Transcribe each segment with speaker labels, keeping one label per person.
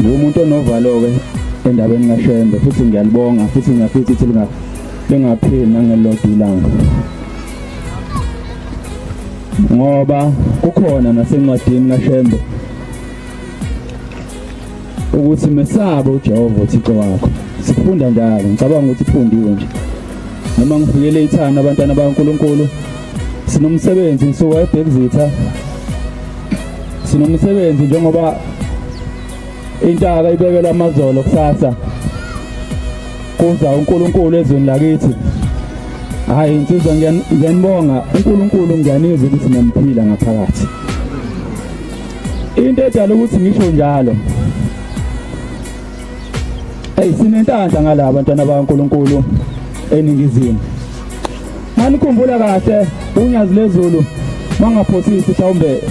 Speaker 1: ngumuntu onovalo-ke endabeni kashembe futhi ngiyalibonga futhi ngiyafisa ukuthi lingapheli nangelilodwa ilanga ngoba kukhona nasencwadini kashembe ukuthi mesabe uJehova uThixo wakho sifunda njalo ngicabanga ukuthi ifundiwe nje noma ngifikele ithana abantwana baNkuluNkulu sinomsebenzi ngisuka ebhekuzitha sinomsebenzi njengoba intaka ibekelwa amazolo kusasa kuza uNkulunkulu ezweni lakithi hayi insizwa ngiyanibonga uNkulunkulu ngiyanizwa ukuthi ngiyamuphila ngaphakathi into edala ukuthi ngisho njalo hey sinentanda ngalaba bantwana baNkulunkulu eningizimu Manikhumbula kahle unyazi lezulu mangaphosisi mhlawumbe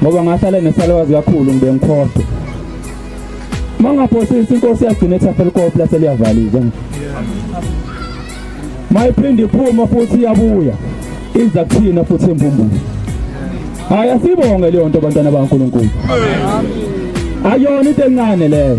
Speaker 1: ngoba ngahlala nesalwazi kakhulu ngibe ngikhohlwa mangaphosisi inkosi yagcina ethafela ikopi lase liyavaliza mayiphinde iphuma futhi iyabuya iza kuthina futhi embumbulu hayi asibonge leyo nto bantwana bankulunkulu ayona into encane leyo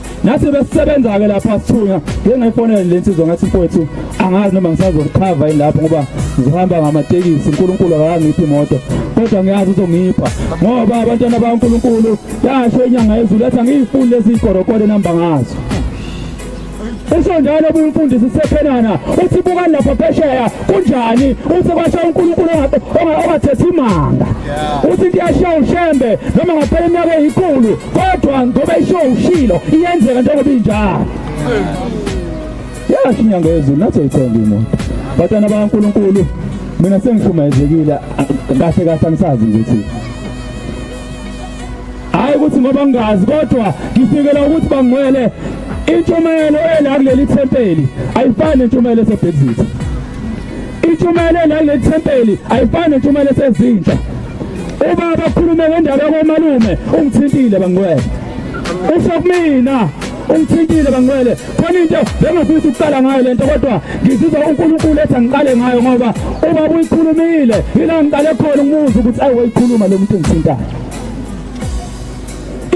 Speaker 1: nathi besisebenza-ke lapha sithunywa ngengayifonele le nsizwa ngathi mfowethu angazi noma ngisazokhava yini lapho ngoba ngihamba ngamatekisi unkulunkulu akangiphi imoto kodwa ngiyazi uzongipha ngoba abantwana bakankulunkulu yasho inyanga yezulu yathi angiyifuni lezi ikorokode nihamba ngazo usho njalo umfundisi sephenana uthi buka lapha phesheya kunjani uthi kwasha uNkulunkulu ongathethi imanga uthi kuyashiya ushembe noma ngaphela iminyaka eyikhulu kodwa ngoba isho ushilo iyenzeka njengoba injalo yasho inyanga yezulu nathi ayithembi imoto batana bakaNkulunkulu mina sengishumayezekile kahle kahle angisazi nje ukuthi hayi ukuthi ngoba ngingazi kodwa ngifikela ukuthi bangcwele intshumayelo ela kuleli thempeli ayifani nentshumayelo esebhekizitha intshumayelo ela kuleli thempeli ayifani nentshumayelo esezintsha Uma bakhulume ngendaba komalume ungithintile bangcwele. Usho kumina ungithintile bangcwele khona into bengifisa ukuqala ngayo lento kodwa ngizizwa uNkulunkulu ethi angiqale ngayo ngoba uma uyikhulumile yila ngiqale khona umuzi ukuthi ayi wayikhuluma lo muntu ngithintayo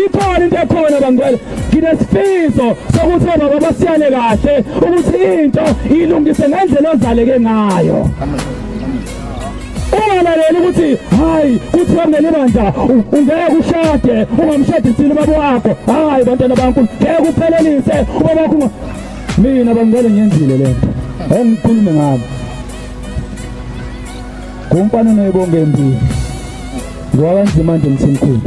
Speaker 1: ikhona into ekhona bangcwele nginesifiso sokuthi obaba basiyane kahle ukuthi into ilungise ngendlela ozaleke ngayo amen ungalaleli ukuthi hayi kuthi wamele bandla ungeke ushade ungamshadisile ubaba wakho hayi bantwana bankulu ngeke uphelelise ubaba wakho mina bangicela ngiyenzile le nto engikhulume ngabo ngumfana oneyibonge empini ngoba kanzima nje mthimkhulu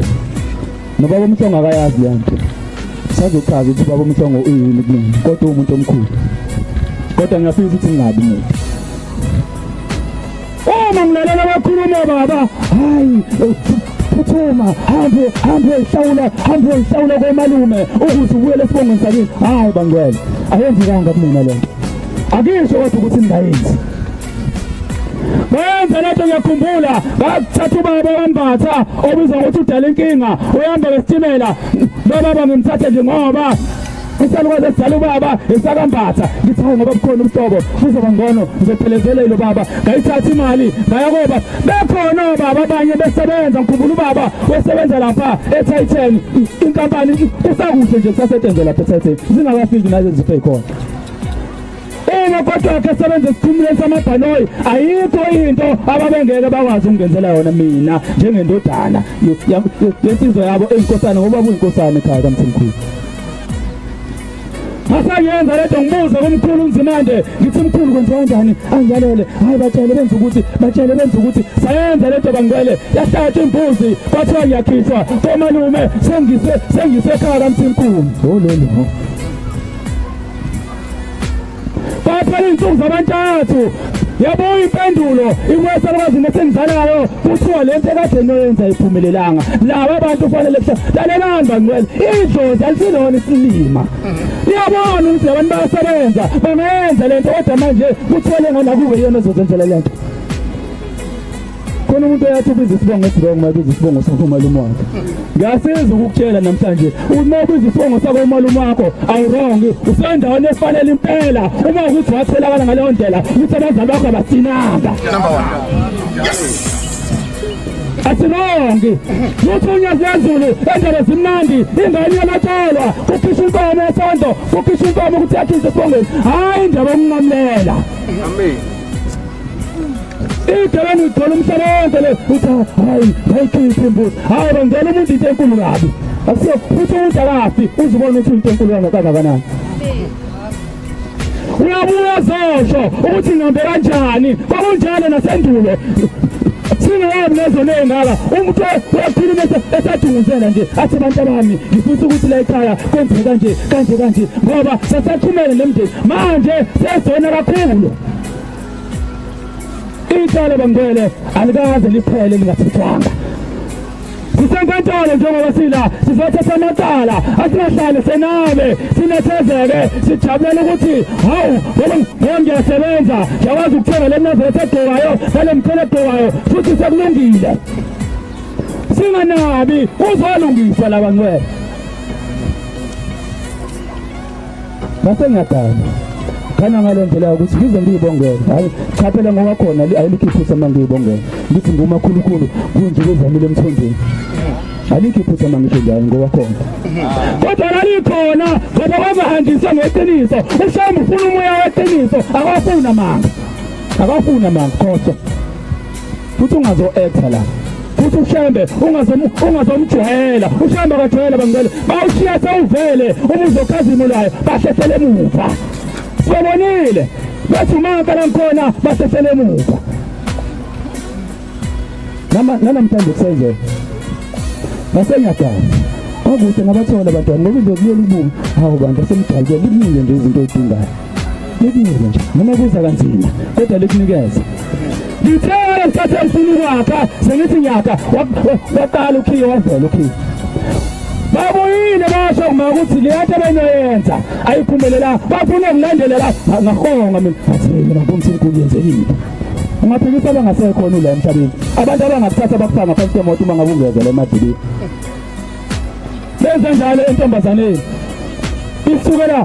Speaker 1: nobaba umhlongo akayazi leyo nto sazochaza ukuthi ubaba umhlongo uyini kumina kodwa uwumuntu omkhulu kodwa ngiyafisa ukuthi ngingabi mina uma ngilalela abakhuluma baba hayi phuthuma hambe hambe hlawula hambe hlawula komalume ukuze ubuyele esibongweni sakini hayi bangcwele ayenzekanga kumina lento akisho kodwa ukuthi ngingayenzi Bayenza lento ngiyakhumbula bathatha ubaba wambatha obizwa ngokuthi udala inkinga uyamba ngesitimela lobaba ngimthathe nje ngoba isalukwazi esidala ubaba esakambatha ngithi hayi ngoba bukhona ubuhlobo kuzoba ngcono ngizophelezela ilo baba ngayithatha imali ngaya koba bekhona obaba abanye besebenza ngikhumbula ubaba wesebenza lapha eTitan inkampani kusakuhle nje kusasetshenzela lapha eTitan zingakafiki nazo ziphe khona uma kodwa ke sebenza isikhumulo samabhanoyi ayikho into ababengeke bakwazi ukungenzela yona mina njengendodana yensizwa yabo enkosana ngoba kuyinkosana ekhaya kamthimkhulu asayenza lento ngibuze kumkhulu unzimande ngithi mkhulu kwenziwa kanjani angilalele hayi batshele benza ukuthi batshele benza ukuthi sayenza lento bangcwele yahlatshwa imbuzi kwathiwa ngiyakhishwa komalume sengise sengise ekhaya kamthimkhulu lololo baphela izinsuku zabantathu yabuya impendulo inkwesa lwazini esengizalayo kuthiwa le nto ekade noyenza iphumelelanga laba bantu kufanele lalelani bangcwele idlozi alisilona isilima iyabona ukuthi labantu bayasebenza bangayenza le nto kodwa manje kuthiwa lengane akube yiyona ezozenzela le nto khona umuntu oyathi ubiza isibongo esibongo uma ubiza isibongo sakho umalume wakhe ngiyasiza ukukutshela namhlanje uma ubiza isibongo sakho umalume wakho awurong usendaweni efanele impela uma ukuthi watholakala ngaleyo ndlela ukuthi abazali bakho abasinanga number
Speaker 2: one yes asilongi
Speaker 1: luthunywa zezulu endaba zimnandi ingane yalatshelwa kukhishwa inkomo yesonto kukhishwa inkomo ukuthi yakhize esibongweni hhayi indaba yokunqamlela amen igcekeni ugcwele umhlaba wonke le uthi hayi hayikhiphe imbuzi hayi bangena umuntu into enkulu kabi akusiyo futhi umuntu akafi uzibona ukuthi into enkulu kangakanani uyabuya zosho ukuthi ngihambe kanjani kwakunjalo nasendulo singayabi lezo ney'ngaka umuntu wakhuluma esadunguzela nje athi abantu abami ngifisa ukuthi la ekhaya kwenzeke kanje kanje kanje ngoba sasaqhumele nemndeni manje sesona kakhulu icala bangele alikaze liphele lingathathwanga sisenkantolo njengoba sila sizothatha amacala asingahlale senabe sinethezeke sijabulela ukuthi hawu ngoba ngiyasebenza ngiyakwazi ukuthenga le mnazethe egqokayo nale mkhele egqokayo futhi sekulungile singanabi uzolungiswa laba ngcwele ngase ngiyadana khana ngale ndlela ukuthi ngize ngiyibongele hayi cha phela ngoba khona alikho iphutha uma ngiyibongele ngithi ngumakhulukhulu kunje kwezamile emthonjeni alikho iphutha uma ngisho njalo ngoba khona kodwa lalikhona ngoba wazahambisa ngeqiniso ushamu ufuna umoya weqiniso akafuna manga akafuna manga khohlwa futhi ungazo actor la futhi ushembe ungazomjwayela ushembe akajwayela bangicela bawushiya sewuvele uma uzokhazimulayo bahlehlele emuva sibonile bathi umaka langikhona bahlehlele emuva nanamhlanje kusenzeka nasengiyagazi kwakuhle ngabathola abantwana ngoba into kuleli bumi hawu bantu asemdalukwe liningi nje izinto oyidingayo likunike nje noma kuza kanzima kodwa likunikeza ngithele ngisathi angifuni ukwakha sengithi ngiyakha waqala ukhiye wavela ukhiye babuyile basho kuma ukuthi le nto benoyenza ayiphumelela bafuna ngilandelela ngahonga mina athi mina ngomthi inkulu yenzekile ungaphikisa abangasekhona ula emhlabeni abantu abangakuthatha bakufaka ngaphansi kwemoto uma ngabe ungezela emadilini benze njalo entombazaneni isukela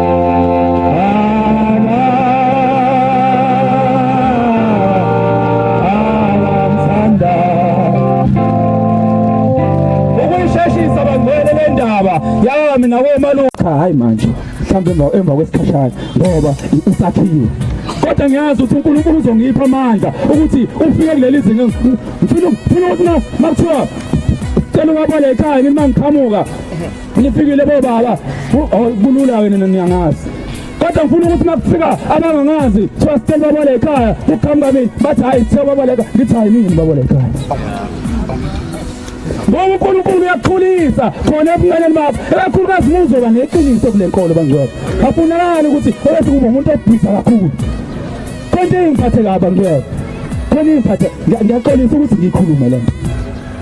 Speaker 1: hayi manje mhlawumbe emva emva kwesikhashana ngoba usakhiwe kodwa ngiyazi ukuthi uNkulunkulu uzongipha amandla ukuthi ufike kuleli zinga ngifuna ngifuna ukuthi makuthiwa cela ubabaleka yini mangiqhamuka Nifikile bo baba. Oh, kulula wena niyangazi. kodwa ngifuna ukuthi makufika abangangazi kuthiwa sicela babala ekhaya kuqhamuka mina bathi hhayi kuthiwa babala ekhaya ngithi hhayi mina babala ekhaya ngoba unkulunkulu uyakhulisa khona ebunganeni bakho ekakhulukazi muzoba neqiniso kule nkolo bangcwele afunakali ukuthi obethi kuba umuntu obhisa kakhulu konke ingiphathe kaba ngcwele khona ingiphathe ngiyaxolisa ukuthi ngikhulume le nto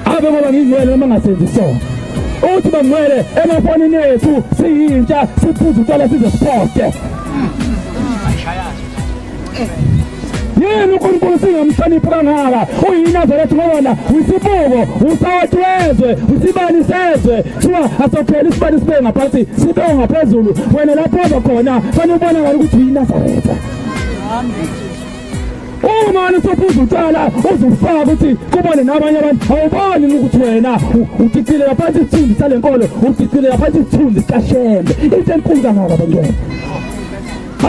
Speaker 1: ave ngoba ngingcwele noma ngasenzi sona uthi bangcwele emafonini ethu siyintsha siphuza utshwala size siposte yini uNkulunkulu singamhloniphi kangaka uyinazaretha ngobona wisibuko usawati wezwe usibani sezwe kuthiwa asophela isibani sibe ngaphansi sibe ngaphezulu wena lapho ozokhona fanele ubonakala ukuthi uyinazaretha umane usefuza utshwala uzifaka ukuthi kubone nabanye abantu awuboni ukuthi wena udicilela phansi isithunzi sale nkolo udicilela phansi isithunzi sikashembe into enkulu kangaka bangena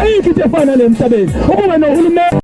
Speaker 1: ayikho into efana le mhlabeni ukube nohulumeni